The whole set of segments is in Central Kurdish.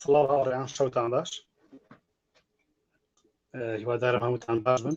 سڵاو هاوڕێیان شەوتان باش هیوادارم هەمووتان باش بن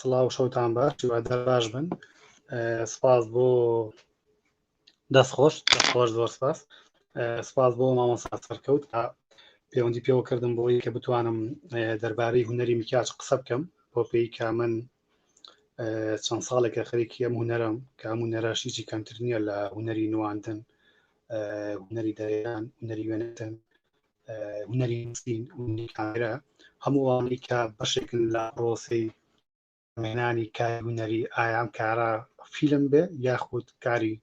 سڵاو شەوتان باش هیوادار باش بن سپاس بۆ دەست خۆش خۆش زۆر سپاس سپاس بۆ مامۆستا سەرکەوت کە پەیوەندی پێوە کردم بۆی کە بتوانم دەربارەی هوەری میکاچ قسە بکەم بۆ پێی کە من چەند ساڵێکە خەرێکی ئەم هوەرم کە ئەم هوەراشیی کەمتر نییە لە هوەری نواندن هوەری دەیان هوەری وێنەتن هونەری نووسین کامێرا هەمووانی کە بەشێکن لە پرۆسی مێنانی کاری هونەری ئایام کارە فیلم بێ یاخود کاری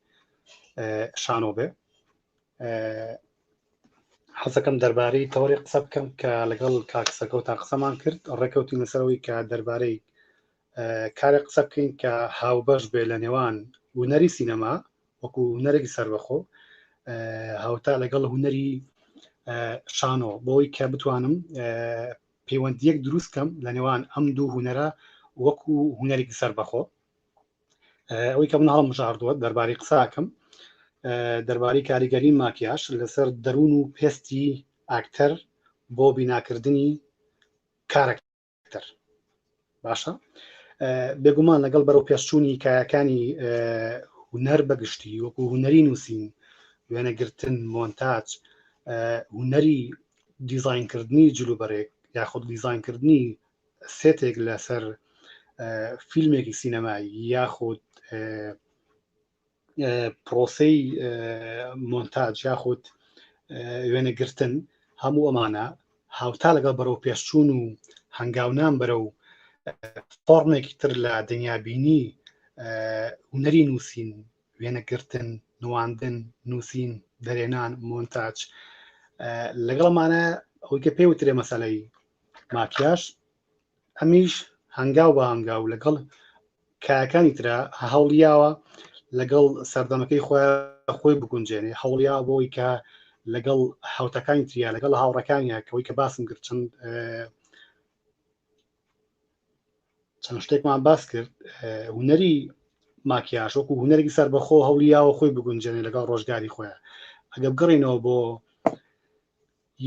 شانۆ بێ حەزەکەم دەربارەی تەوەری قسە بکەم کە لەگەڵ کاکسەکەوتان قسەمان کرد ڕێکەوتی لەسەرەوەی کە دەربارەی کارێک قسە بکەین کە هاوبەش بێ لە نێوان ونەری سینەما وەکو هوەرێکی سربەخۆ هاوتا لەگەڵ هوەری شانۆ بۆی کە بتوانم پەیوەندیەک دروست کەم لە نێوان ئەم دوو هوەرە وەکو هوەرێکی سربەخۆ ئەوەی کە من هەڵم مژاردووە دەربارەی قساکەم دەربارەی کاریگەری ماکیاش لەسەر دەروون و پێستی ئاکتەر بۆ بیناکردنی کارەکە تر باشە بێگومان لەگەڵ بەرەو پێشچوونی کایەکانی هوەر بەگشتی وەکو هوەری نووسین وێنەگرتن مۆنتاج هوەری دیزینکردنی جلوبەرێک یاخود دیزینکردنی سێتێک لەسەر فیلمێکی سینەمایی یاخود پرۆسەی مۆنتاج یاخود وێنە گرتن هەموو ئەمانە هاوتا لەگەڵ بەرەو پێشچوون و هەنگاونان بەرە و فۆرمێکی تر لە دنیابینی هوەری نووسین وێنەگرتن نواندن نووسین دەرێنان مۆنتاج لەگەڵمانە ئەوکە پێی وترێ مەسلەی ماکیاش ئەمیش هەنگاو بە هەنگاو لەگەڵ کایەکانی ترا هەوڵیاوە لەگەڵ سەردەمەکەی خۆ خۆی بگونجێنێ هەوڵیا بۆی کە لەگەڵ حوتەکانی تریا لەگەڵ هاوڕەکانیا کەەوەی کە باسم کرد چەند چەند شتێکمان باس کرد هوەری ماکیاش وەکو هوەرێکی سەر بەخۆ هەوڵیاوە خۆی بگونجێنێ لەگەڵ ڕۆژگاری خۆیان ئەگە بگەڕینەوە بۆ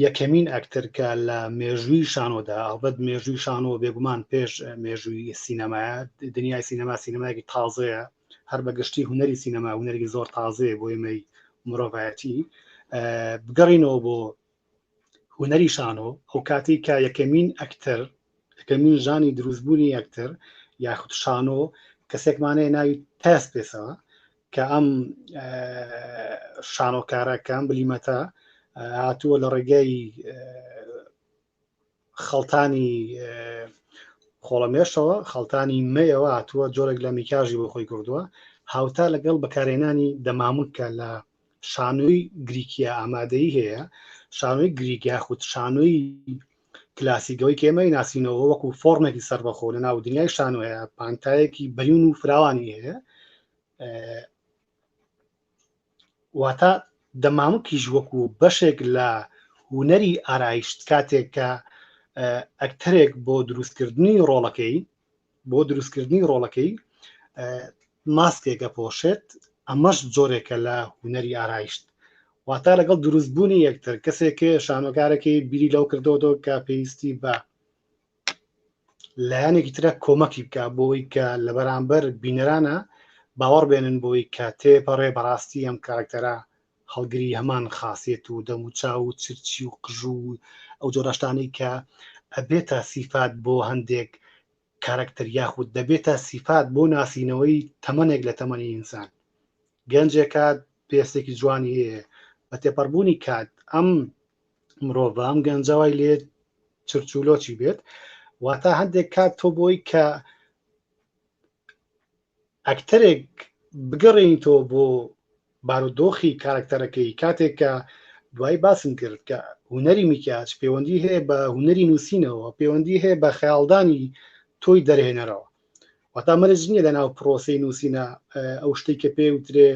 یەکەمین ئەکتەر کە لە مێژووی شانۆدا، ئەڵبەت مێژووی شانۆ بێگومان پێش مێژووی سینەمایە، دنیای سینەما سینەمایەکی تازەیە، هەر بە گشتی هونەری سینەما هونەرێکی زۆر تازەیە بۆ ئێمەی مرۆڤایەتی. بگەڕینەوە بۆ هونەری شانۆ، ئەو کاتێک کە یەکەمین ئەکتەر فیتەمین ژانی دروستبوونی یەکتر یاخود شانۆ کەسێکمانەیە ناوی تاس پێسەوە کە ئەم شانۆکارەکەم بلیمەتە هاتووە لە ڕێگای خەڵتانی خۆڵەمێشەوە خەڵتانی مەیەوە هاتووە جۆرێک لە میکاژی بۆ خۆی کردووە هاوتا لەگەڵ بەکارێنانی دەمامکە لە شانۆی گریکیا ئامادەی هەیە شانۆی گریک یاخود شانۆی کلاسیکەوەی کێمەی ناسینەوە وەکو فۆرمێکی سەربەخۆ لە ناو دنیای شانۆ هەیە پانتایەکی بەیون و فراوانی هەیە واتە دەمامکیش وەکو بەشێک لە هوەری ئارایشت کاتێک کە ئەکتەرێک بۆ دروستکردنی ڕۆڵەکەی بۆ دروستکردنی ڕۆڵەکەی ماسکێک ئەپۆشێت ئەمەش جۆرێکە لە هوەری ئارایشت واتا لەگەڵ دروستبوونی یەکتر کەسێک شانۆکارەکەی بیری لەو کردەوەەوە کە پێویستی بە لایەنێکی ترە کۆمەکی بکە بۆی کە لە بەرامبەر بینەرانە باوەڕ بێنن بۆی کە تێپەڕێ بەڕاستی ئەم کارکتەرە هەڵگری هەمان خاصێت و دەموچاو و چرچی و قژو و ئەو جۆرەشتانەی کە ئەبێتە سیفات بۆ هەندێک کارەکتەر یاخود دەبێتە سیفات بۆ ناسینەوەی تەمەنێک لە تەمەنی ئینسان گەنجێکات پێستێکی جوانی هەیە بە تێپەڕبوونی کات ئەم مرۆڤ ئەم گەنجەوای لێ چرچولۆچی بێت واتا هەندێک کات تۆ بۆی کە ئەکتەرێک بگەڕێنیتەوە بۆ بارودۆخی کارکتەرەکەی کاتێک کە دوای باسم کرد کە هوەری میکیاج پەیوەندی هەیە بە هوەری نووسینەوە پەیوەندی هەیە بە خەیاڵدانی تۆی دەرهێنەرەوە وەتا مەرج نییە لە ناو پرۆسی نووسینە ئەو شتی کە پێ وترێ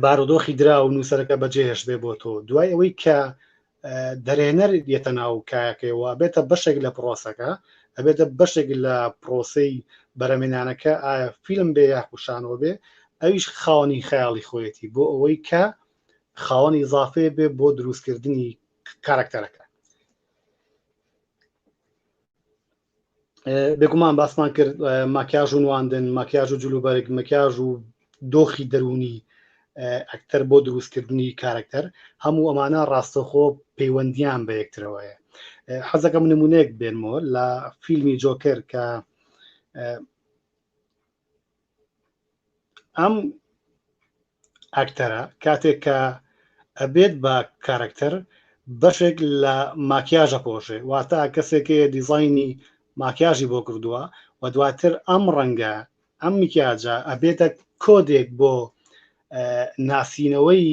بارودۆخی درا و نووسەرەکە بەجێهێش بێ بۆ تۆ دوای ئەوەی کە دەرێنەر یەتە ناو کایەکەیەوە بێتە بەشێک لە پرۆسەکە ئەبێتە بەشێک لە پرۆسی بەرەمێنانەکە ئایا فیلم بێ یاخوشانەوە بێ ئەویش خاوەنی خەیاڵی خۆیەتی بۆ ئەوەی کە خاوەنی زافێ بێ بۆ دروستکردنی کارکتەرەکە بێگومان باسمان کرد ماکیاژ و نواندن ماکیاژ و جلوبەرگ مەکیاژ و دۆخی دەرونی ئەکتەر بۆ دروستکردنی کارەکتەر هەموو ئەمانە ڕاستەخۆ پەیوەندیان بە یەکترەوەیە حەزەکەم نمونەیەک بێنمۆ لە فیلمی جۆکر کە ئەم ئەکتەرە کاتێک کە ئەبێت بە کارکتەر بەشێک لە ماکیاژە پۆشێ واتا کەسێکەیە دیزایانی ماکیاژی بۆ کردووە و دواتر ئەم ڕەنگە ئەم میکیاجە ئەبێتە کۆدێک بۆ ناسینەوەی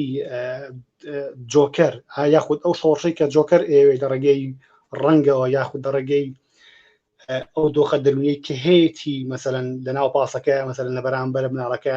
جۆکەر یاخود ئەو شۆڕشەی کە جۆکەر ئێوێ لە ڕێگەی ڕەنگەوە یاخود لە ڕێگەی ئەو دۆخە دەرونیەی کە هەیەی مەسەن لە ناو پاسەکە مەسەن لە بەرامبەر مناڵەکە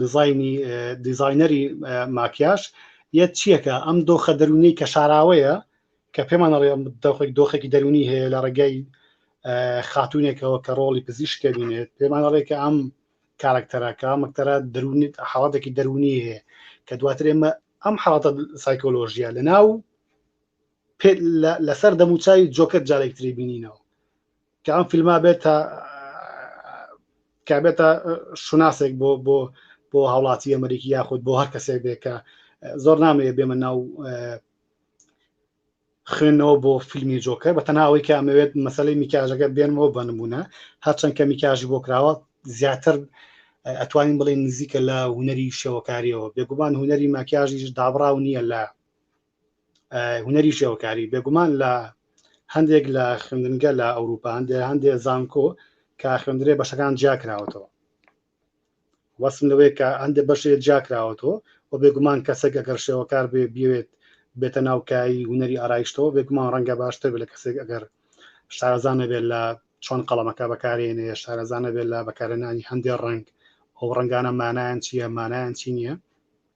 دیزاینی دیزاینەری ماکیاش یە چیەکە ئەم دۆخە دەرونی کە شاراوەیە کە پێمان ڕێ دەخۆی دۆخێکی دەرونی هەیە لە ڕێگەی خاتونێکەوە کە ڕۆڵی پزیش کەبینێت پێمان ڕێ کە ئەم کارکتەرەکە مەکتەرە دەرونی حاڵاتێکی دەرونی هەیە کە دواتر ئێمە ئەم حاڵاتە سایکۆلۆژیە لە ناو لەسەر دەموچوی جۆکە جارێکتری بینینەوە کە ئەم فیلما بێتە کابێتە شوناسێک بۆ بۆ بۆ هاوڵاتی ئەمریکی یاخود بۆ هەر کەسێک بێ کە زۆر نامەیە بێمە ناو خوێنەوە بۆ فیلمی جۆکە بە تەناوەی کە ئەمەوێت مەسلەی میکاژەکە بێنمەوە بنمونە هەرچەند کە میکاژی بۆ کراوە زیاتر ئەتوانین بڵێن نزیکە لە هوەری شێوەکاریەوە بێگومان هوەری ماکیاژیش دابراو نییە لە هوەری شێوەکاری بێگومان لە هەندێک لە خوێندنگە لە ئەوروپا هەندێ هەندێ زانکۆ کە خوێندرێ بەشەکان جیاکراوەتەوە وەسم لەوەیە کە هەندێک بەشێ جیاکراوەتەوە و بێگومان کەسێک ئەگەر شێوەکار بێ بوێت بێتە ناوکایی هوەری ئارایشتەوە بێگومان ڕەنگە باشتر بێت لە کەسێک ئەگەر شارزانە بێت لە چۆن قەڵەمەکە بەکارێنێ شارەزانە بێت لە بەکارێنانی هەندێک ڕنگ ئەو ڕنگانە مانایان چییە مانایان چی نییە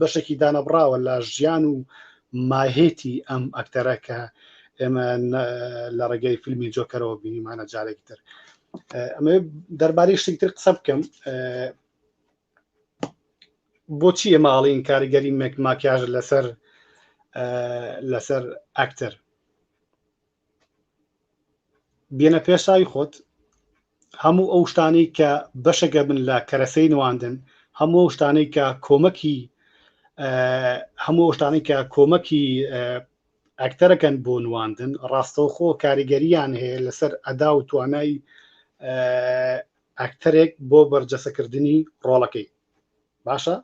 بەشێکی دانەبڕاوە لە ژیان و ماهێتی ئەم ئەکتەرە کە ئێمە لە ڕێگەی فیلمی جۆکەرەوە بینیمانە جارێکی تر ئەمە دەربارەی شتێکتر قسە بکەم بۆچی ئێمە ئاڵین کاریگەری مەک ماکیاژ لەسەر لەسەر ئەکتەر بێنە پێش چاوی خۆت هەموو ئەو شتانەی کە بەشەگە بن لە کەرەسەی نواندن هەموو ئەو شتانەی کە کۆمەکی هەموو ئەو شتانەی کە کۆمەکی ئەکتەرەکەن بۆ نواندن ڕاستەوخۆ کاریگەریان هەیە لەسەر ئەدا و توانای ئەکتەرێک بۆ بەرجەسەکردنی ڕۆڵەکەی باشە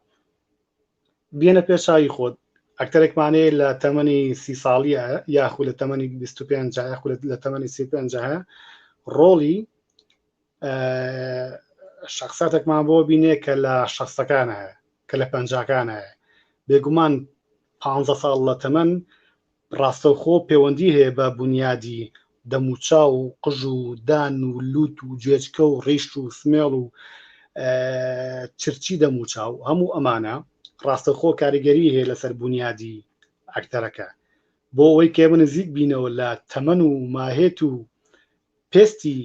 بیەنە پێش چاوی خۆت ئەکتەرێکمانەیە لە تەمەنی سی ساڵیە یاخو لە تەمەنی 25 یاخو لە تەمەنی 35 ڕۆڵی شخصاتێکمان بۆ بینێ کە لە شخصەکانە کە لە پەنجاکانە بێگومان پ ساڵ لە تەمەن ڕاستەوخۆ پێوەندی هەیە بە بونیادی دەموچاو و قژ و دان و لوت و گوێچکە و ڕیش و سمێڵ و چرچی دەموچاو هەموو ئەمانە ڕاستەوخۆ کاریگەری هەیە لەسەر بونیادی ئەکتەرەکە بۆ ئەوەی کە ئێمە نزیک بینەوە لە تەمەن و ماهێت و پێستی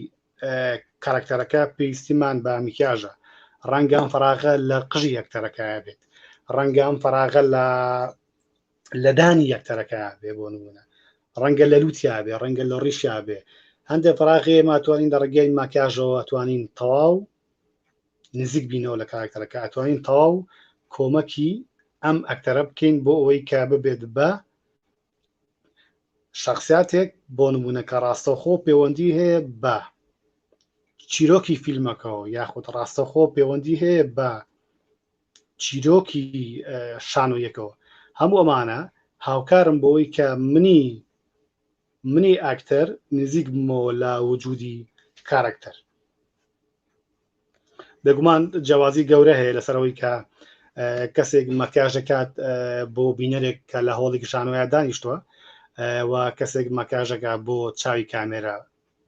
کاراکتەرەکە پێویستیمان بە میکیاژە ڕەنگە ئەم فراغە لە قژی ئەکتەرەکایە بێت ڕەنگە ئەم فراغە لە لەدانی یەکتەرەکە بێ بۆ نمونە ڕەنگە لە لووتیا بێ ڕەنگە لە ڕیشیا بێ هەندێک پراغێ ماتوانین لە ڕگەی ماکیاژەوە توانین تەواو نزیک بینەوە لە کاراکتەرەکە ئەتوانین تەواو کۆمەکی ئەم ئەکتەرە بکەین بۆ ئەوەی کە ببێت بە شخصاتێک بۆ نمونونەکە ڕاستەخۆ پەیوەندی هەیە بە چیرۆکی فیلمەکەەوە یاخود ڕاستەخۆ پەیوەندی هەیە بە چیرۆکی شانۆیەکەوە هەموو ئەمانە هاوکارم بۆەوەی کە منی منی ئاکتەر نزیک بمەوە لە وجودی کارکتەر بێگومان جیاوازی گەورە هەیە لەسەرەوەی کە کەسێک مەکیاژەکات بۆ بینەرێک کە لە هۆڵی گشانۆە دانیشتووە و کەسێک مەکاژەکە بۆ چاوی کامێرا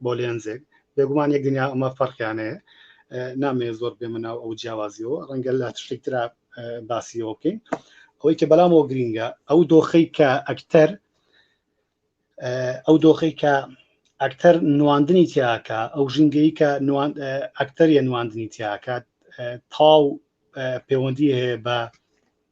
بۆ لێنزێک بێگومان یەک دنیا ئەمە فەرقیانەیە نامێ زۆر بێ مناو ئەو جیاوازیەوە ڕەنگە لە شتێکترا باسیەوە بکەین ئەوەی کە بەلامەوە گرینگە ئەو دۆخەی کە ئەکتەر ئەو دۆخەی کە ئەکتەر نواندنی تیاکە ئەو ژینگەی کە ئەکتەریە نواندنی تیاکات تاو پەیوەندی هەیە بە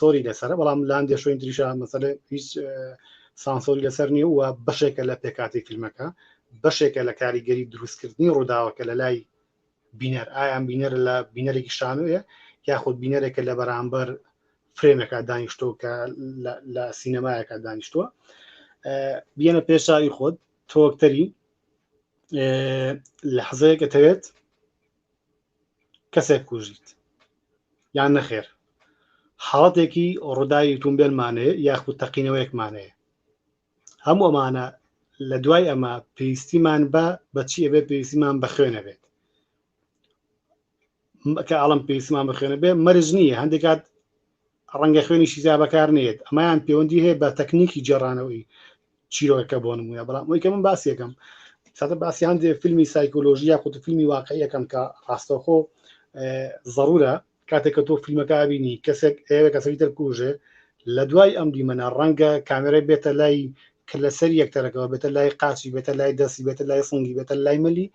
سۆری لەسەر بەڵام لاندێ شوین تریشا مەسەل هیچ سانسۆری لەسەر نیە و بەشێکە لە پێکاتی فیلمەکە بەشێکە لە کاریگەری دروستکردنی ڕووداوەکە لە لای بینەر ئایان بینەر لە بینەرێکی شانوێ یاخود بینەرێکە لە بەرامبەر فرێمێکا دانیشتۆ کە لە سینەمایەکە دانیشتووە بیەنە پێشاوی خۆت تۆکتەری لە حەزەیەکە تەوێت کەسێک کوژیت یان نەخێر حاڵەتێکی ڕووداوی تومبێلمانەیە یاخود تەقینەوەیەکمانەیە هەموو ئەمانە لە دوای ئەمە پێویستیمان بە بەچی ئەبێ پێویستیمان بە خوێنە بێت کە ئاڵم پێویستمان بە خوێنە بێ مەرج نییە هەندێکات ڕەنگە خوێنی شیزا بەکار نێت ئەمایان پەیوەندی هەیە بە تەکنیکی جێڕانەوەی چیرۆکەکە بۆ نمونە بەڵام ئەوی کە من باسیەکەم ساتە باسی هەندێک فیلمی سایکۆلۆژی یا قوت فیلمی واقعیەکەم کە ڕاستەخۆ ضرورە کاتێک کە تۆ فیلمەکە بینی کەسێک ئێوە کەسەوی دەرکوژێ لە دوای ئەم دیمەە ڕەنگە کامێرای بێتە لای کە لەسەر یەکتەرەکەەوە بێتە لای قاچی بێتە لای دەستی بێتە لای سنگی بێتە لای ملی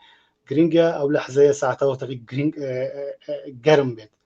گرنگە ئەو لە حزەیە ساعتەوەتەکە گرنگ گەرم بێت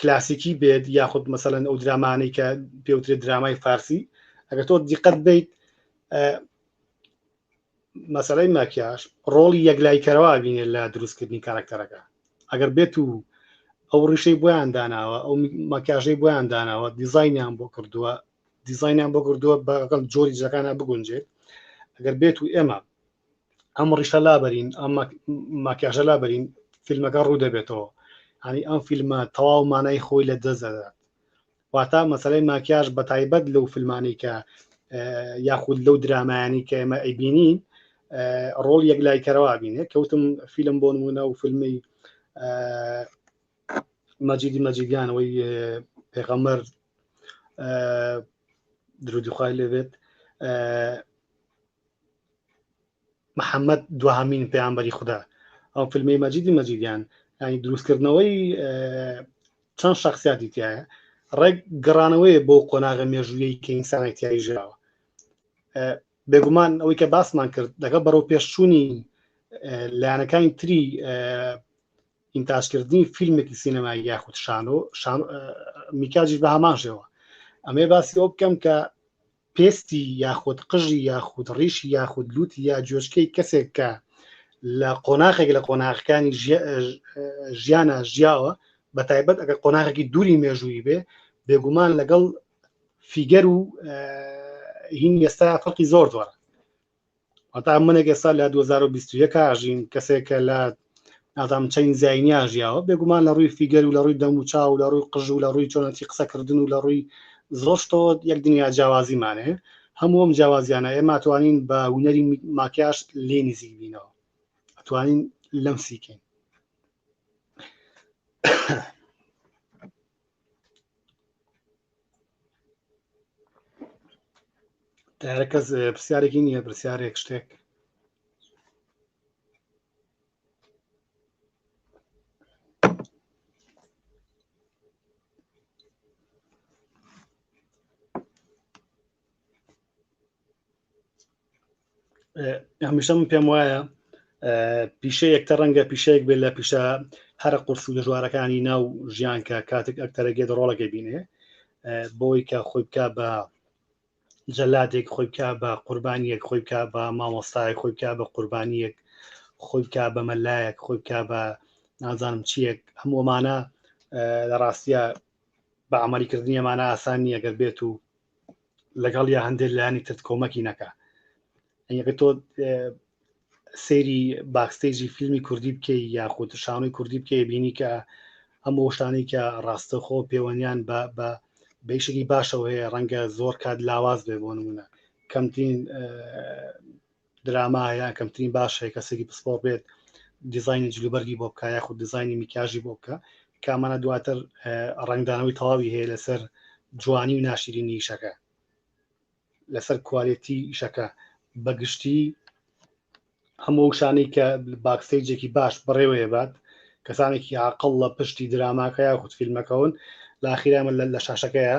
کلاسیکی بێت یاخود مەسەلەن ئەو درامانەی کە پێوترێت درامای فارسی ئەگەر تۆ دیقەت بیت مەسلەی ماکیاش ڕۆڵی یەکلای کەرەوە بینێ لە دروستکردنی کارکتەرەکە ئەگەر بێت و ئەو ڕیشەی بۆیان داناوە ئەو مەکیاژەی بۆیان داناوە دیزینیان بۆ کردووە دیزینیان بۆ کردووە بەگەڵ جۆری جەکانە بگونجێت ئەگەر بێت و ئێمە ئەم ڕیشە لابەرین ئەم ماکیاژە لابەرین فیلمەکە ڕوو دەبێتەوە هەنی ئەم فیلمە تەواو مانای خۆی لە دەزدەدات واتا مەسلەی ماکیاژ بە تایبەت لەو فیلمانی کە یاخود لەو درامایانی کە ئێمە ئەیبینین ڕۆڵ یەک لای کەرەوە بینێ کەوتم فیلم بۆ نمونە و فیلمی مەجیدی مەجیدیانەوەی پێغەمەر درودیخوای لێبێت محمد دوهمین پێیانبەری خودا ئەو فیلمی مەجیدی مەجیدیان ینی دروستکردنەوەی چەند شخصیاتی تایە ڕێک گەڕانەوەی بۆ قۆناغە مێژوویی کە ئینسانای تیایی ژاوە بێگومان ئەوەی کە باسمان کرد دەگە بەرەو پێشچوونی لایەنەکانی تری ئینتاجکردنی فیلمێکی سینەمای یاخود شانۆ میکاجیش بە هەمان شێوە ئەمێ باسی ئەو بکەم کە پێستی یاخود قژی یاخود ڕیشی یاخود لوتی یا جۆچکەی کەسێک کە لە قۆناخێک لە قۆناغەکانی ژیانە ژیاوە بە تایبەت ئەگەر قۆناغێکی دووری مێژووی بێ بێگومان لەگەڵ فیگەر و هین ئێستا فەرقی زۆر زۆر ئەتا منێک ئێستا لە 2021 ئاژین کەسێکە لە نازام چین زینیا ژیاوە بێگومان لە ڕووی فیگەر و لە ڕووی دەم و چا و لە ڕووی قژ و لە ڕووی چۆنەتی قسەکردن و لە ڕووی زۆشتۆ یەک دنیا جیاوازیمانێ هەمووم جیاوازیانە ئێمە توانین بە هوەری ماکیاش لێ نزیک بینەوە ئەتوانین لەم سیکەین کەس پرسیارێکی نییە پرسیارێک شتێک هەمیشە من پێم وایە پیشە یەکتە ڕەنگە پیشەیەک بێت لە پیشە هەرە قرس و دەژوارەکانی ناو ژیان کە کاتێک ئەکتەرەگێت ڕۆڵەکە بینێ بۆی کە خۆی بکە بە جەلادێک خۆی بکە بە قوربانیەک خۆی بکە بە مامۆستای خۆی بکە بە قوربانیەک خۆی بکە بە مەلایەک خۆی بکە بە نازانم چیەک هەموومانە لە ڕاستە بە ئەمەریکردنیەمانە ئاسان نیە گەر بێت و لەگەڵ یا هەندێک لایانی ترت کۆمەکی نەکە ئەگە تۆ سەیری باکستێجی فیلمی کوردی بکەی یاخود شانۆی کوردی بکەی بینی کە ئەم شتانی کە ڕاستەخۆ پێوەنیان بە بە بەیشێکی باشەوە هەیە ڕەنگە زۆر کات لاواز بێ بۆ نمونە کەمترین دراما یان کەمترین باشەیە کەسێکی پسپۆر بێت دیزایانی جلوبەرگی بۆ بکە یاخود دیزایانی میکیاژی بۆ بکە کامانە دواتر ڕنگدانەوەی تەواوی هەیە لەسەر جوانی و ناشرینی ئیشەکە لەسەر کوالێتی ئیشەکە بەگشتی هەموو شانەی کە باکسەیجێکی باش بڕێوەیە بات کەسانێکی عقل لە پشتی دراماکە یاخود فیلمەکەون لاخیرامە لە شاشەکەیە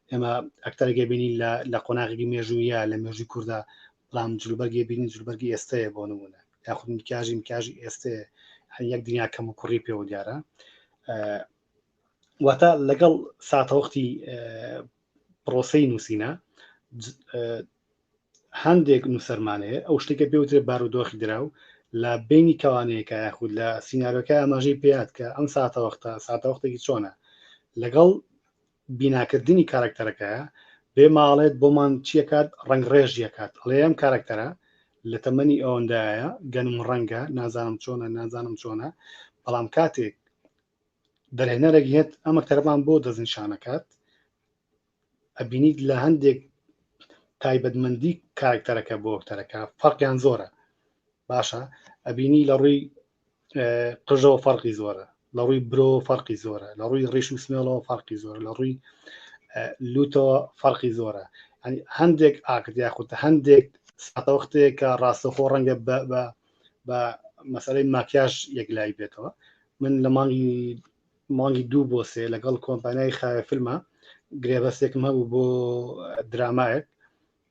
ئێمە ئەکتەرێکی بینین لە قۆناغێکی مێژوویە لە مێژووی کووردا بەڵام جلوبەرگی بینین جلوبەرگی ئێستەیە بۆ نمونە یاخود میکاژی میکاژی ئێستێ یەک دنیا کەم و کوڕی پێوە دیارە واتە لەگەڵ ساتەوەختی پرۆسی نووسینە هەندێک نووسەرمانەیە ئەو شتێکە پێوترێ بارودۆخی دراو لە بینی کەوانەیەەکە یاخود لە سینناەکە ئاماژەی پێات کە ئەم ساتەوەختە ساتەوەختێکی چۆنە لەگەڵ بیناکردنی کارەکتەرەکەیە بێ ماڵێت بۆمان چیەکات ڕەنگ ڕێژ یەکات ئەڵێ ئەم کارەکتەرە لە تەمەنی ئەوەندایە گەنم ڕەنگە نازانم چۆنە نازانم چۆنە بەڵام کاتێک دەرهێنەرێک هێت ئەمە تەربان بۆ دەستنیشانەکات ئەبینیت لە هەندێک تایبەتمەندی کارکتەرەکە بۆ وەکتەرەکە فەرقیان زۆرە باشە ئەبینی لە ڕووی قژەوە فەرقی زۆرە لە ڕووی برۆ فەرقی زۆرە لە ڕووی ڕیش و سمێڵەوە فەرقی زۆر لە ڕووی لوتەوە فەرقی زۆرە هەندێک ئاکت یاخود هەندێک ساتەوەختەیە کە ڕاستەخۆ ڕەنگە بە مەسەی ماکیاش یەک لای بێتەوە من لە مانگی مانگی دوو بۆ سێ لەگەڵ کۆمپانیای خاوێ فیلمە گرێبەسێکم هەبوو بۆ درامایەک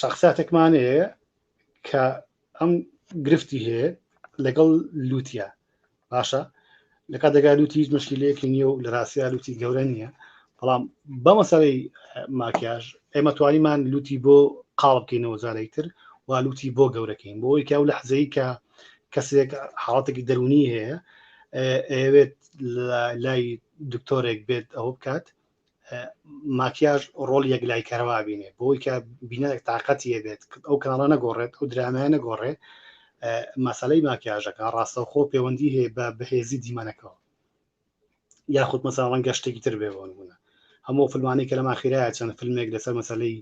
شخصاتێکمان هەیە کە ئەم گرفتی هەیە لەگەڵ لوتیا باشە لە کاتێکا لوتی هیچ مشکلەیەکی نییە و لە راستیا لوتی گەورە نییە بەڵام بە مەسەرەی ماکیاژ ئێمە توانیمان لوتی بۆ قاڵ بکەینەوە جارێک تر و لوتی بۆ گەورەکەین بۆ یکاو لە حزەی کە کەسێک حاڵاتێکی دەرونی هەیە ئەوێت لای دکتۆرێک بێت ئەوە بکات ماکیاژ ڕۆڵ یەکلای کەرەوە بینێ بۆی کە بینەرێک تااقەتی هەبێت ئەو کاناڵە نەگۆڕێت ئەو درامایە نەگۆڕێ مەسلەی ماکیاژەکە ڕاستەوخۆ پەیوەندی هەیە بە بەهێزی دیمەنەکەەوە یاخود مەسا ڕەنگە شتێکی تر بێ بۆن بوونە هەموو فلمانی کە لەما خیرایە چەند فیلمێک لەسەر مەسلەی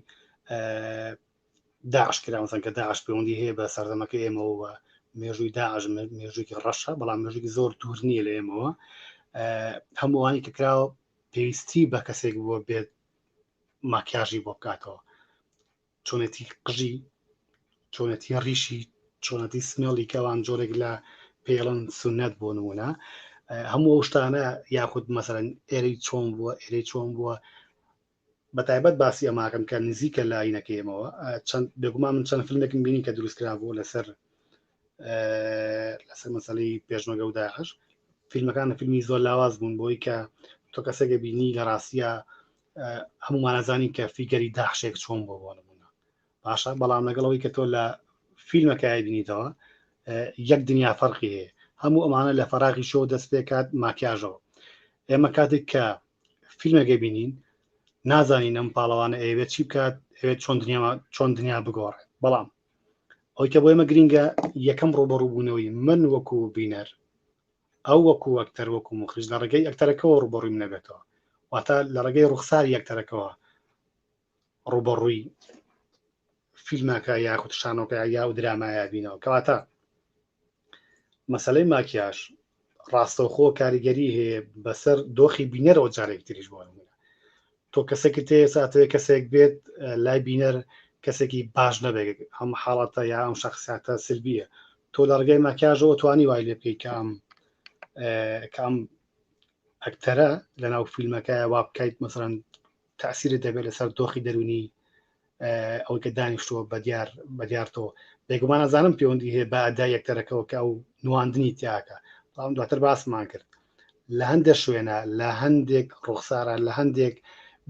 داعش کرامەسەن کە داعش پەیوەندی هەیە بە سەردەمەکە ئێمەوە مێژووی داعش مێژوویکی ڕەشە بەڵام مێژووی زۆر دوور نییە لە ئێمەوە هەمووانی کە کراوە پێویستی بە کەسێک بووە بێت ماکیاژی بۆ بکاتەوە چۆنێتی قژی چۆنەتی ڕیشی چۆنەتی سمێڵی کەوان جۆرێک لە پێڵن سونەت بۆ نمونە هەموو ئەو شتانە یاخود مەسەرەن ئێرەی چۆن بووە ئێرەی چۆن بووە بە تایبەت باسی ئەماکەم کە نزیکە لاینەکەیمەوە چەند بێگومان من چەند فیلمێکم بینی کە دروستکرا بوو لەسەر لەسەر مەسەی پێشمەگە و داعش فیلمەکان لە فیلمی زۆر لاواز بوون بۆی کە تۆ کەسێکە بینی لە ڕاستە هەمومانەزانی کە فیگەری داحشێک چۆن بۆ بۆ نمونە باشە بەڵام لەگەڵەوەی کە تۆ لە فیلمەکای بینیتەوە یەک دنیا فەرقی هەیە هەموو ئەمانە لە فەراغی شۆ دەست پێکات ماکیاژەوە ئێمە کاتێک کە فیلمەکە بینین نازانین ئەم پاڵەوانە ئەوێت چی بکات ئەوێت چۆن دنیا چۆن دنیا بگۆڕێت بەڵام ئەوەی کە بۆ ئێمە گرینگە یەکەم ڕووبەڕووبوونەوەی من وەکو بینەر ئەو وەکو ئەکتەر وەکو مخرج لە ڕێگەی ئەکتەرەکەەوە ڕوبەڕووی منەبێتەوە واتە لە ڕێگەی ڕوخساری ئەکتەرەکەەوە ڕوبەڕووی فیلمەکە یاخود شانۆکە یا و درامایە بینەوە کەواتە مەسەلەی ماکیاژ ڕاستەوخۆ کاریگەری هەیە بەسەر دۆخی بینەرەوە جارێک تریش بۆ نمونە تۆ کەسێکت تێ ساتەوەی کەسێک بێت لای بینەر کەسێکی باش نەبێت ئەم حاڵەتە یا ئەم شخصاتە سلبیە تۆ لە ڕگەی ماکیاژەوە توانی وای لێ بکەیت کام کام ئەکتەرە لە ناو فیلمەکە وا بکەیت مەسەرەن تاسیرە دەبێت لەسەر دۆخی دەرونی ئەوەی کە دانیشتووە بە دیار بە دیارتەوە بێگومان ئەزانم پەیوەندی هەیە بە ئەدا یەکتەرەکەەوە کە ئەو نواندنی تیاکە بەڵام دواتر باسمان کرد لە هەندێک شوێنە لە هەندێک ڕوخسارە لە هەندێک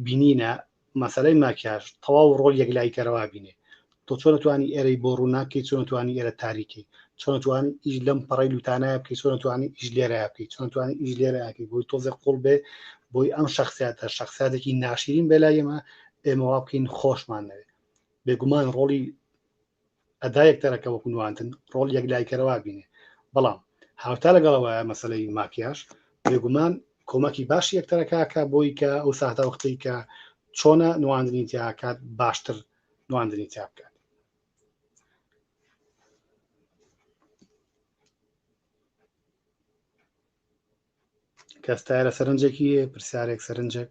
بینینە مەسلەی ماکیاش تەواو ڕۆل یەکلای کەرەوا بینێ تۆ چۆن توانی ئێرەی بۆ ڕووناکەی چۆن توانی ئێرە تاریکی چۆن توان ئیش لەم پەڕی لوتانایە بکەی چۆن توانی ئیش لێرە بکەی چۆن توانی ئیش لێرەکەی بۆی تۆزێک قوڵ بێ بۆی ئەم شخصیاتە شخصاتێکی ناشرین بێلا ئێمە ئێمە وا بکەین خۆشمان نەوێ بێگومان ڕۆڵی ئەدا یەکتەرەکە وەکو نواندن ڕۆڵ یەک لایکەرەوە بینێ بەڵام هاوتا لەگەڵەوە مەسلەی ماکیاش بێگومان کۆمەکی باش یەکتەرەکەکە بۆی کە ئەو ساهتا وەختەی کە چۆنە نواندنی تیاکات باشتر نواندنی تیا بکات کەستایە لە سەرنجێکی پرسیارێک سەرنجێک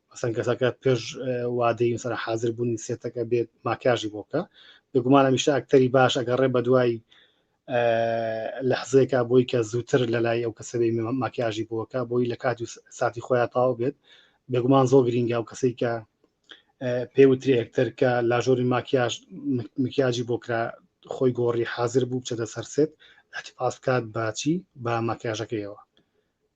ئەسەن کەسەکە پێش وادەی سەر حاضر بوونی سێتەکە بێت ماکیاژی بۆکە بێگومان هەمیشە ئەکتەری باش ئەگەڕێ بە دوای لە حزێکا بۆی کە زووتر لە لای ئەو کەسەبی ماکیاژی بۆکە بۆی لە کات و ساتی خۆیان تاو بێت بێگومان زۆر گرینگە و کەسی کە پێوتری ئەکتەر کە لاژۆری ماکیاژ مکیاجی بۆکرا خۆی گۆڕی حاضر بوو بچێتە سەرسێت ئەتیپاس بکات باچی بە ماکیاژەکەیەوە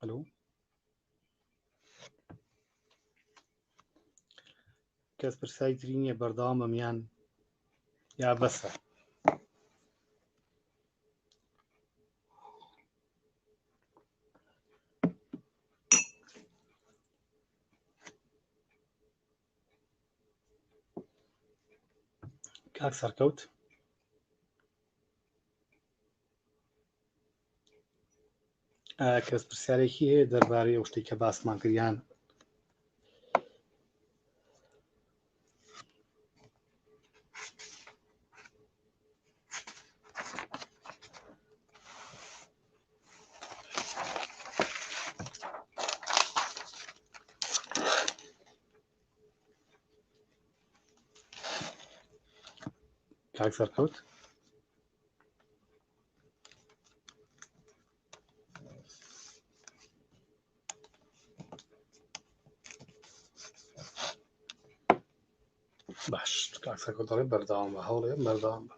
ئەلو کەس پرسای تری نییە بەردەوامە میان یا بەسە کاک سەرکەوت کەس پرسیارێکی هەیە دەربارەی ئەو شتێک کە باسمان کردیان کاک سەرکەوت باش کاکسەکە دەڵێ بەرداوام بە هەوڵێ بەرداوام بە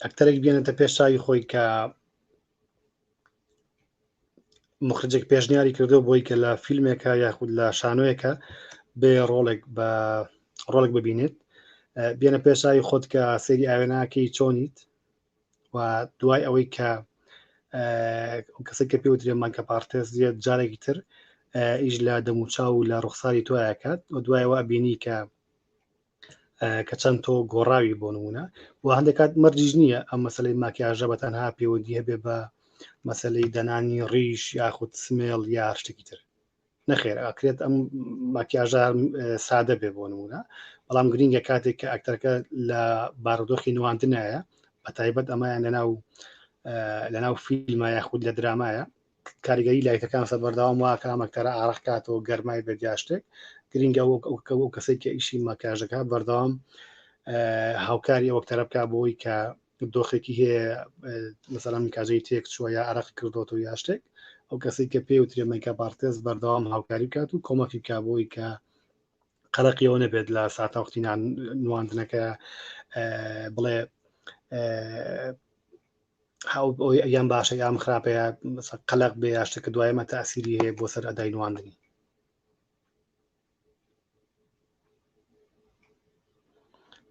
ئەکتەرێک بێنێتە پێش چاوی خۆی کە مخرجێک پێشنیاری کردو بۆی کە لە فیلمێکە یاخود لە شانۆیەکە بێ ڕۆڵێک بە ڕۆڵێک ببینێت بێنە پێشاوی خۆت کە سەری ئاوێناکەی چۆنیت و دوای ئەوەی کە کەسی کە پێوترێ مانکە پارتێز زیێت جارێکی تر ئیش لە دەموچاو و لە ڕوخساری تۆیاکات و دوایەوە بینی کە کە چەند تۆ گۆڕاوی بۆ نمونە و هەندێکات مەرجیش نییە ئەم مەسلەی ماکیاژە بە تەنها پێوەدی هەبێ بە مەسلەی دەنانی ڕیش یاخود سمێڵ یا شتێکی تر نەخێر ئاکرێت ئەم ماکیاژە سادە بێ بۆ نمونە بەڵام گرنگە کاتێک کە ئەکتەرەکە لە بارودۆخی نواندنایە بە تایبەت ئەمایان لەناو لەناو فیلمە یاخود لە درامایە کاریگەری لایتەکان سەر بەردەوام واکە ئەم ئەکتەرە ئارەق کاتەوە گەرمای بێت یا شتێک گرنگە وەک ئەو کە ئەو کەسێک کە ئیشی ماکیاژ دەکات بەردەوام هاوکاری ئەو ئەکتەرە بکە بۆی کە دۆخێکی هەیە مثلا مکاجەی تێک چووە یا عراق کردوەوە یا شتێک ئەو کەسی کە پێ وترێ مەیکا پارتێز بەردەوام هاوکاری بکات و کۆمەکی بکە بۆی کە قەرەقیەوە نەبێت لە ساتا وقتینان نواندنەکە بڵێ یان باشە یان خراپەیە قەلق بێ یا شتەکە دوایمە تاسیری هەیە بۆ سەر ئەدای نواندنی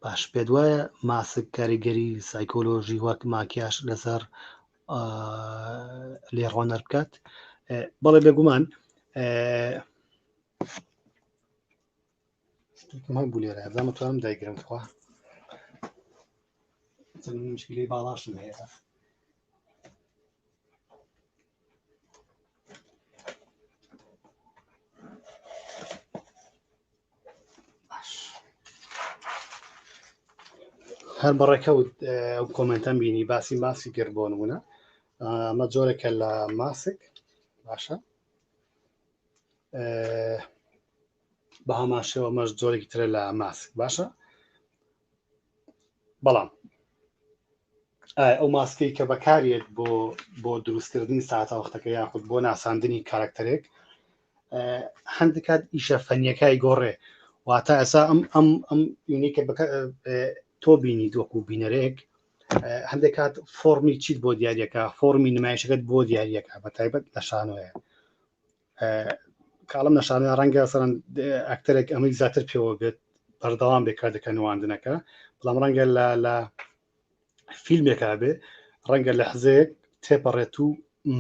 باش پێ دوایە ماسک کاریگەری سایکۆلۆژی وەک ماکیاش لەسەر لێڕۆنەر بکات بەڵێ بێگومان شتێکمان بوو لێرە ئەزان متوانم دایگرم خوا چەند مشکلی باڵاشم هەیە هەر بەڕێکەوت ئەو کۆمنتەم بینی باسی ماسی گەر بۆ نمونە ئەمە جۆرێکە لە ماسک باشە بە هەمان شێوە مەش جۆرێکی ترە لە ماسک باشە بەڵام ئەو ماسکەی کە بەکارێت بۆ بۆ دروستکردنی ساعتاوەختەکە یاخود بۆ ناساندنی کارکتەرێک هەندکات ئیشە فەنیەکای گۆڕێ واتە ئەسا ئەم ئەم ئەم یونیکە تۆ بینی دۆک و بینەرێک هەندێک کات فۆمی چیت بۆ دیارەکە فۆمی نمایشەکەت بۆ دیارەکە بە تایبەت لە شانۆیە کاڵم نەشانە ڕەنگە سەرەن ئەکتەرێک ئەمەی زیاتر پێوە بێت بەردەوام بێ کاتەکە نواندنەکە بەڵام ڕەنگە لە لە فیلمێکا بێ ڕەنگە لە حزەیەک تێپەڕێت و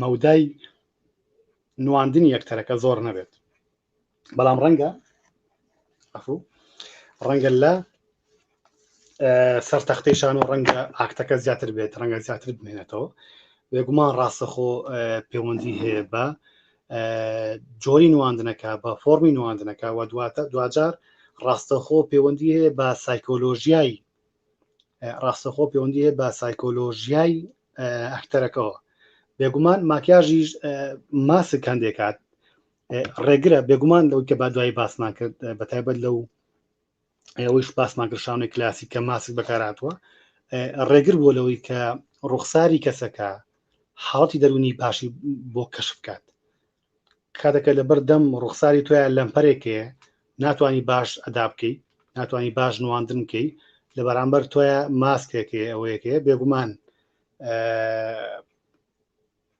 مەودای نواندنی یەکتەرەکە زۆر نەبێت بەڵام ڕەنگە ڕەنگە لە سەر تەختەی شان و ڕەنگە ئاکتەکە زیاتر بێت ڕەنگە زیاتر بمێنێتەوە بێگومان ڕاستەخۆ پەیوەندی هەیە بە جۆری نواندنەکە بە فۆمی نواندنەکە و دواتە دوجار ڕاستەخۆ پەیوەندی هەیە بە سایکۆلۆژیای ڕاستەخۆ پەیوەندی هەیە بە سایکۆلۆژیای ئەکتەرەکەەوە بێگومان ماکیاژیش ماسک هەندێکات ڕێگرە بێگومان لەو کە با دوای باسمان کرد بە تایبەت لەو ئەوەیش باسمان کرد شانۆی کلاسی کە ماسک بەکاراتوە ڕێگر بۆ لەوەی کە ڕوخساری کەسەکە حاڵەتی دەرونی باشی بۆ کەش بکات کاتەکە لە بەردەم ڕوخساری تویان لەمپەرێکێ ناتانی باش ئەدا بکەیت ناتانی باش نواندن بکەیت لە بەرامبەر تۆە ماسکێکێ ئەوەیەکێ بێگومان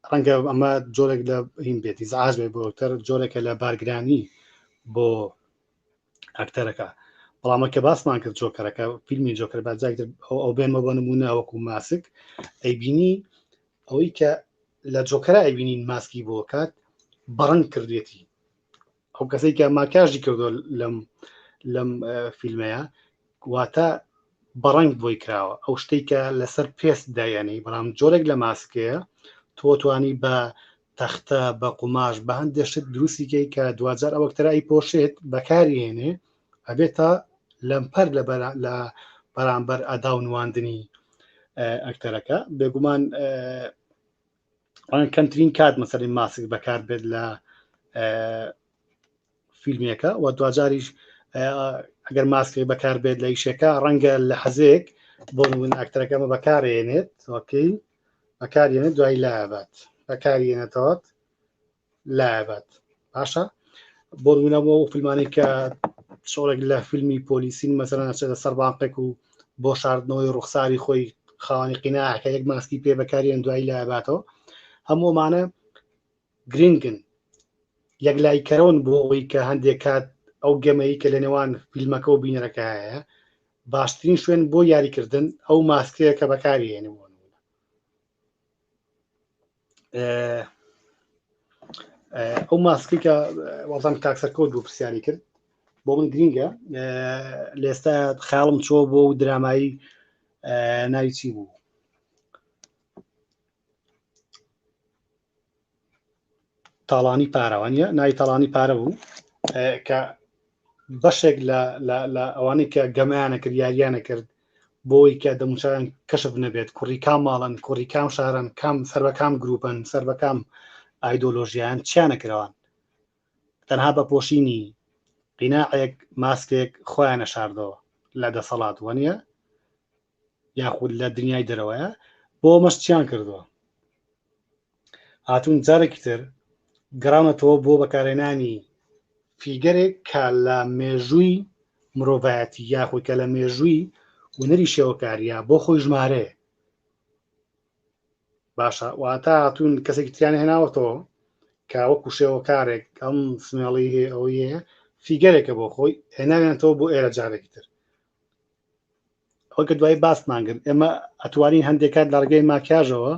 ڕەنگە ئەمە جۆرێک لە هین بێت ئیزعاج بێت بۆ ئەکتەر جۆرێکە لە بارگرانی بۆ ئەکتەرەکە بەڵامە کە باسمان کرد جۆکەرەکە فیلمی جۆکەر باجاکتر ئەو بێنمە بۆ نمونە وەکو ماسک ئەیبینی ئەوەی کە لە جۆکەرە ئەبینین ماسکی بۆ کات بەڕنگ کردێتی ئەو کەسێک کە ماکیاژی کردو لەم لەم فیلمەیە واتە بەڕنگ بۆی کراوە ئەو شتێک کە لەسەر پێست دایەنەی بەڵام جۆرێک لە ماسکەیە تۆ توانی بە تەختە بە قوماش بە هەندێشت دروستیکەی کە دوجار ئەوەکتەرایی پۆشێت بەکاری هێنێ ئەبێت تا لەمپەر لە لە بەرامبەر ئەدا و نواندنی ئەکتەرەکە بێگومان کەمترین کات مەسەری ماسک بەکار بێت لە فیلمێکە و دواجاریش ئەگەر ماسکی بەکار بێت لە یشێکە ڕەنگە لە حەزێک بۆ من ئاکتەرەکەمە بەکارێنێت وەکەی بەکارێنێت دوای لابات بەکارێنێتەوەت لابات باشە بۆ ڕوونەوە و فیلمانی کە شۆڕێک لە فیلمی پۆلیسین مەسەرە نەچێتە سەر بانقێک و بۆ شاردنەوەی ڕوخساری خۆی خاوەنی قیناکە یەک ماسکی پێ بەکاریان دوایی لاباتەوە هەموومانە گرنگن یەک لایکەرەوەن بۆ ئەوەی کە هەندێک کات ئەو گەمەی کە لە نێوان فیلمەکە و بینەرەکە هەیە باشترین شوێن بۆ یاریکردن ئەو ماسکەیە کە بەکاریێنەوە ئەو ماسکی کە وەڵام تاکسەکۆ دوو پرسیاری کرد بۆ من گرینگە لە ئێستا خیاڵم چۆ بۆ و درامایی ناوی چی بوو تاڵانی پارەوانە نای تاڵانی پارە بوو کە بەشێک لە ئەوانەی کە گەمەیانە کرد یاریانە کرد بۆی کە دەموچاویان کەشف نەبێت کوڕی کام ماڵن کوڕی کام شارن کام سەر بە کام گروپن سەر بە کام ئایدۆلۆژیان چیانە کراوان تەنها بە پۆشینی قیناعێک ماسکێک خۆیانە شاردەوە لە دەسەڵات وەنیە یاخود لە دنیای دەرەوەیە بۆ مەشتیان کردووە هاتوون جارێکی تر گەڕاونەتەوە بۆ بەکارێنانی فیگەرێک کە لە مێژووی مرۆڤایەتی یاخود کە لە مێژووی ونەری شێوەکاریە بۆ خۆی ژمارەیە باشە واتە هاتوون کەسێکی تیان هێناوەتەوە کە وەکو شێوەکارێک ئەم سمێڵی هەیە ئەوەیە فیگەرێکە بۆ خۆی هێناوێنەوە بۆ ئێرە جارێکی تر وەکە دوای باسمان کرد ئێمە ئەتوانین هەندێک کات لە ڕگەی ماکیاژەوە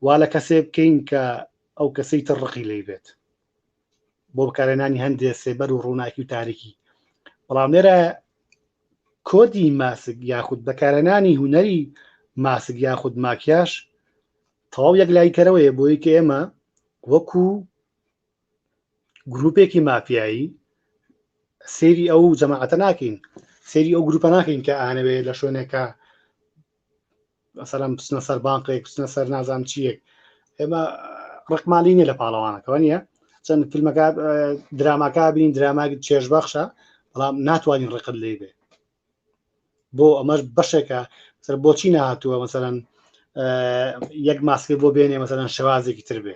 وا لە کەسێ بکەین کە ئەو کەسەی تر ڕقی لی بێت بۆ بکارێنانی هەندێ سێبەر و ڕووناکی و تاریکی بەڵام لێرە کۆدی ماسک یاخود بەکارێنانی هوەری ماسک یاخود ماکیاش تەواو یەک لایکەرەوەیە بۆی کە ئێمە وەکو گروپێکی مافیایی سێری ئەو جەماعەتە ناکەین سێری ئەو گروپە ناکەین کە ئانەوێ لە شوێنێکە سەرم بچنە سەر بانقێک بچنە سەر نازان چیەک ئێمە ڕقمالی نیە لە پاڵەوانەکەەوە نیە چەند فیلمەکە دراماکە بین دراما چێژ بەخشە بەڵام ناتوانین ڕقت لێ بێ بۆ ئەمەش بەشێکە سەر بۆچی نهاتووە مەسەرەن یەک ماسکە بۆ بێنێ مەسەرەن شێوازێکی تر بێ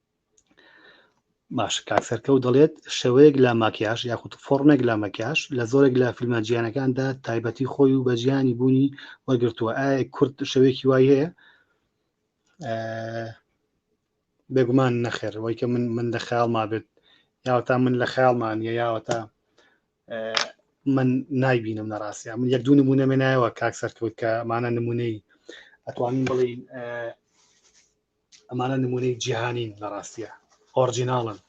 باش کاک سەرکەوت دەڵێت شێوەیەک لە ماکیاش یاخود فۆڕمێک لە مەکیاش لە زۆرێک لە فیلمە جیانەکاندا تایبەتی خۆی و بەجیانی بوونی وەرگرتووە ئایا کورد شەوێکی وای هەیە بێگومان نەخێر وای کە من من لە خیاڵ ما بێت یاوەتا من لە خیاڵمان یە یاوەتا من نایبینم لە ڕاستە من یەک دوو نمونە منایەوە کاک سەرکەوت کە مانە نمونەی ئەتوانین بڵین ئەمانە نمونەی جیهانین لە ڕاستە ئۆرجیناڵن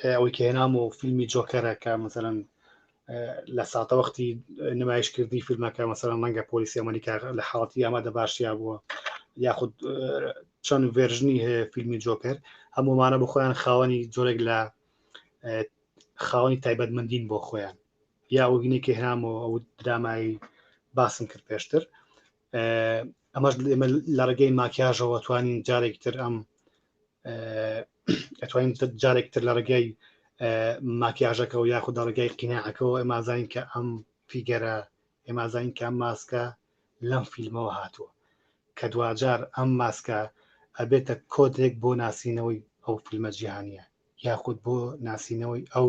ئەوەی کە هێنام و فیلمی جۆکەرەکە مثلەن لە ساتە وەختی نمایش کردی فیلمەکە مەسەر ڕەنگە پۆلیسی ئەمریکا لە حاڵەتی ئامادە باشیا بووە یاخود چەند ڤێژنی هەیە فیلمی جۆکەر هەمومانە بۆ خۆیان خاوەنی جۆرێک لە خاوەنی تایبەتمەندین بۆ خۆیان یا وگینێکی هەمەوە ئەو درامایی باسم کرد پێشتر ئەمەش ئێمە لە ڕێگەی ماکیاژەوە توانین جارێک تر ئەم ئەتوانین جارێک تر لە ڕێگەی ماکیاژەکەەوە یاخود لە ڕێگەی قینەعەکەەوە ئەمازانین کە ئەم فیگەرە ئێمازانین کە ماسکە لەم فیلمەوە هاتووە کە دواجار ئەم ماسکە ئەبێتە کۆدرێک بۆ ناسینەوەی ئەو فیلمە جیهانیە یاخود بۆ ناسینەوەی ئەو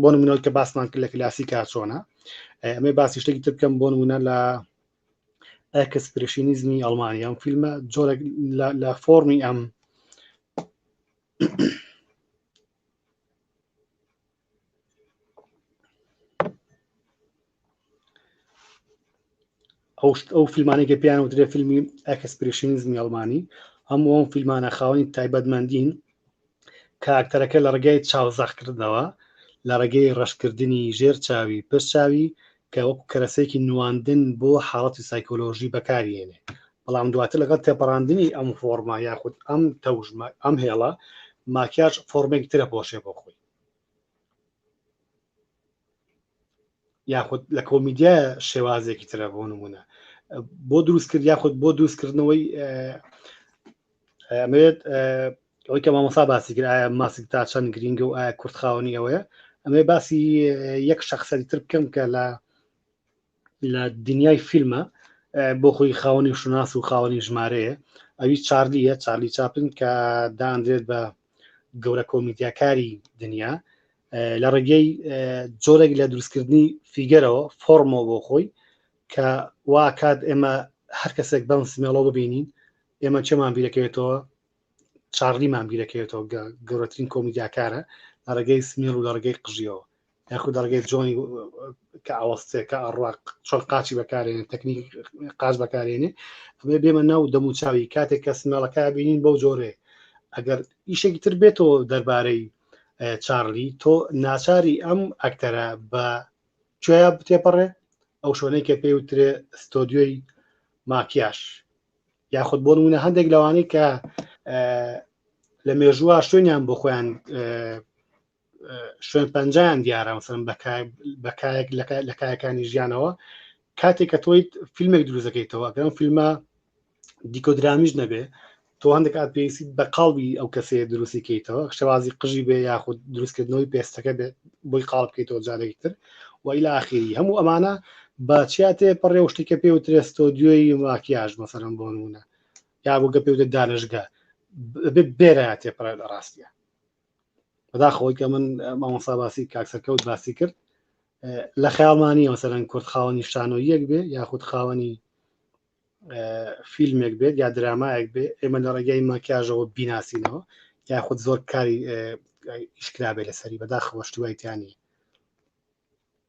بۆ نمونەوە کە باسمان کرد لە کلاسی کارچۆنە ئەمێ باسی شتێکی تر بکەم بۆ نمونە لە ئەکسپرشینیزمی ئەڵمانی ئەم فیلمە جۆرە لە فۆمی ئەم ئەو فیلمانی کە پێیان وترێ فیلمی ئەکسپریشنیزمی ئەڵمانی هەموو ئەم فیلمانە خاوەنی تایبەتمەندین کاکتەرەکە لە ڕگەی چاوزەخکردنەوە لە ڕێگەی ڕەشکردنی ژێر چاوی پشت چاوی کە وەک کەرەسێکی نواندن بۆ حاڵەتی سایکۆلۆژی بەکارێنێ بەڵام دواتر لەگەڵ تێپەڕاندنی ئەم فۆرما یاخود ئەم تەوژمە ئەم هێڵە ماکیاش فۆرمێک ترە پۆشێ بۆ خۆی یاخود لە کۆمیدیا شێوازێکی ترە بۆ نمونە بۆ دروست کرد یاخود بۆ دروستکردنەوەی ئەمەوێت ئەوەی کە مامەسا باسی کرد ئایا ماسک تا چەند گرینگە و ئایا کورتخاوەنی ئەوەیە ئەمێ باسی یەک شخصەری تر بکەم کە لە لە دنیای فیلمە بۆ خۆی خاوەنی شوناس و خاوەنی ژمارەیە ئەوی چارلیە چارلی چاپن کە داندرێت بە گەورە کۆمیدیاکاری دنیا لە ڕێگەی جۆرێک لە دروستکردنی فیگەرەوە فۆرمەوە بۆ خۆی کە واکات ئێمە هەر کەسێک بەم سمێڵۆ ببینین ئێمە چێمان بیرەکەوێتەوە چارلیمان بیرەکەوێتەوە گەورەترین کۆمیدیاکارە لە ڕێگەی سمێڵ و لە ڕێگەی قژیەوە یاخود دەڕگەی جۆنی کە ئاوەستێ کە ئەڕوا چۆن قاچی بەکارێنێ تەکنیک قاچ بەکارێنێ ئەمێ بێمە ناو دەموچاوی کاتێک کە سمێڵەکە بینین بەو جۆرێ ئەگەر ئیشێکی تر بێتەوە دەربارەی چارلی تۆ ناچاری ئەم ئەکتەرە بە کوێە بتێپەڕێ ئەو شوێنەی کە پێی وترێ ستۆدیۆی ماکیاش یاخود بۆ نمونە هەندێک لەوانەی کە لە مێژووە شوێنیان بۆ خۆیان شوێن پەنجیان دیارە مەسەن بەکایەک لە کایەکانی ژیانەوە کاتێک کە تۆیت فیلمێک دروزەکەیتەوە گەم فیلمە دیکۆ درامیش نەبێ تۆ هەندێک ئات پێویستی بە قاڵبی ئەو کەسێ دروستی کەیتەوە شێوازی قژی بێ یاخود دروستکردنەوەی پێستەکە بێ بۆی قاڵ بکەیتەوە جارێکی تر وئیلا ئاخیری هەموو ئەمانە بە چیاتێ پەڕێ شتێکە پێ و ترێستۆ دوێی ماکیاژ مەسەرم بۆ نمونە یا بۆگە پێودە دانشگە بێرە تێپەڕێ لە ڕاستە بەداخەوەی کە من مامۆسا باسی کاکسەرکەوت باسی کرد لە خیاڵمانی مەسەرەن کورد خاوەنی شانۆ یەک بێ یاخود خاوەنی فیلمێک بێت یا درامایەک بێ ئێمە لە ڕێگەی ماکیاژەوە بیناسینەوە یاخود زۆر کاری ئیشکرابێ لەسەری بەداخەوە شتیوایتیانی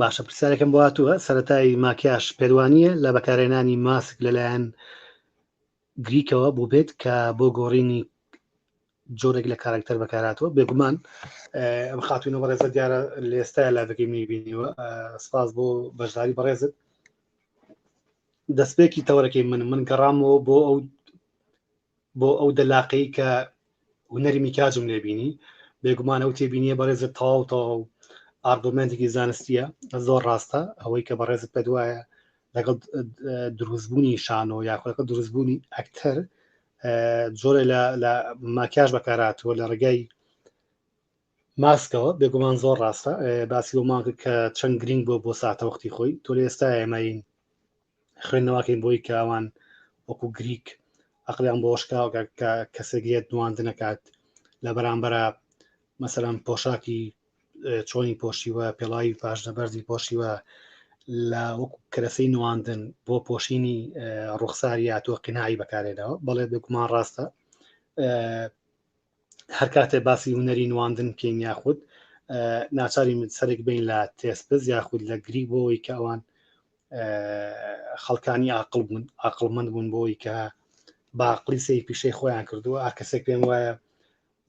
باشە پرسیارەکەم بۆ هاتووە سەتای ماکیاش پێدوانیە لە بەکارێنانی ماسک لەلایەن گریکەوە بوو بێت کە بۆ گۆڕینی جۆرێک لە کارکتەر بەکاراتەوە بێگومان ئەم خاتونە بەڕێزە دیارە لێستا لابەکەی میبینیوە سپاس بۆ بەشداری بەڕێزت دەستپێکی تەوەرەکەی من من گەڕامەوە بۆ ئەو بۆ ئەو دەلاقەی کە هونەری میکاجم لێ بینی بێگومان ئەو تێبینیە بەڕێزت تەواو تەواو ئارگومنتێکی زانستیە زۆر ڕاستە ئەوەی کە بەڕێزت پێ دوایە لەگەڵ دروستبوونی شانۆ یاخۆەکە دروستبوونی ئەکتەر جۆرە لە ماکیاش بەکاراتوە لە ڕێگای ماسکەوە بێگومان زۆر ڕاستە باسی بۆ ماکە کە چەند گرنگ بۆ بۆ ساتەوەختی خۆی تۆ لە ئێستا ئێمەین خوێندنەوەکەین بۆی کاوان وەکو گریک ئەقلیان بۆشکاوە کە کەسێک لێت نواند نەکات لە بەرامبەرە مەسەرم پۆشاکی چۆنی پۆشیوە پێڵاوی پاشنە بەرزی پۆشیوە لە وەکو کەرەسەی نواندن بۆ پۆشینی ڕوخساریا تۆ قینایی بەکارێنەوە بەڵێ بێکمان ڕاستە هەرکاتێ باسی هوەری نواندن بکەین یاخود ناچاری من سەرک بین لە تێسپز یاخود لە گری بۆەوەی کە ئەوان خەڵکانی عقل بوون عقلمەند بوون بۆی کە باقلی سی پیشەی خۆیان کردووە ئاکەسێک پێم وایە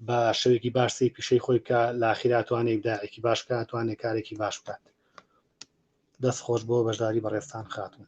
بە شەوێکی باش سی پیشەی خۆی بکە لاخیراتوانێک داعێکی باش بکاتوانێت کارێکی باش بکات دەست خۆش بۆ بەشداری بەڕێستان خاتون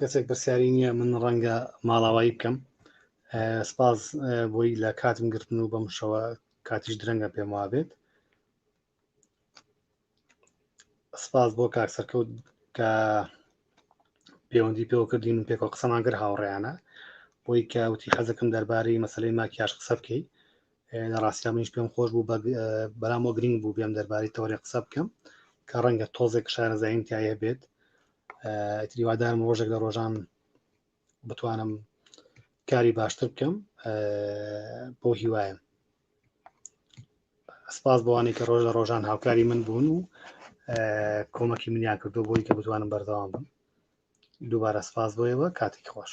کەسێک پرسیاری نییە من ڕەنگە ماڵاوایی بکەم سپاس بۆی لە کاتم گرتن و بەمشەوە کاتیش درەنگە پێم وابێت سپاس بۆ کاک سەرکەوت کە پەیوەندی پێوە کردین و پێکەوە قسەمان گەر هاوڕێیانە بۆی کە وتی حەزەکەم دەربارەی مەسلەی ماکیاش قسە بکەی لە ڕاستیا منیش پێم خۆش بوو بەرامۆ گرنگ بوو بێم دەربارەی تەوەێ قسە بکەم کە ڕەنگە تۆزێک شارەزاییم تایە بێت تریوادارم ڕۆژێک لە ڕۆژان بتوانم کاری باشتر بکەم بۆ هیوایم سپاس بۆوانەی کە ڕۆژ لە ڕۆژان هاوکاری من بوون و کۆمەکی منیان کردو بۆی کە بتوانم بەردەوام بم دووبارە سپاس بۆیەوە کاتێک خۆش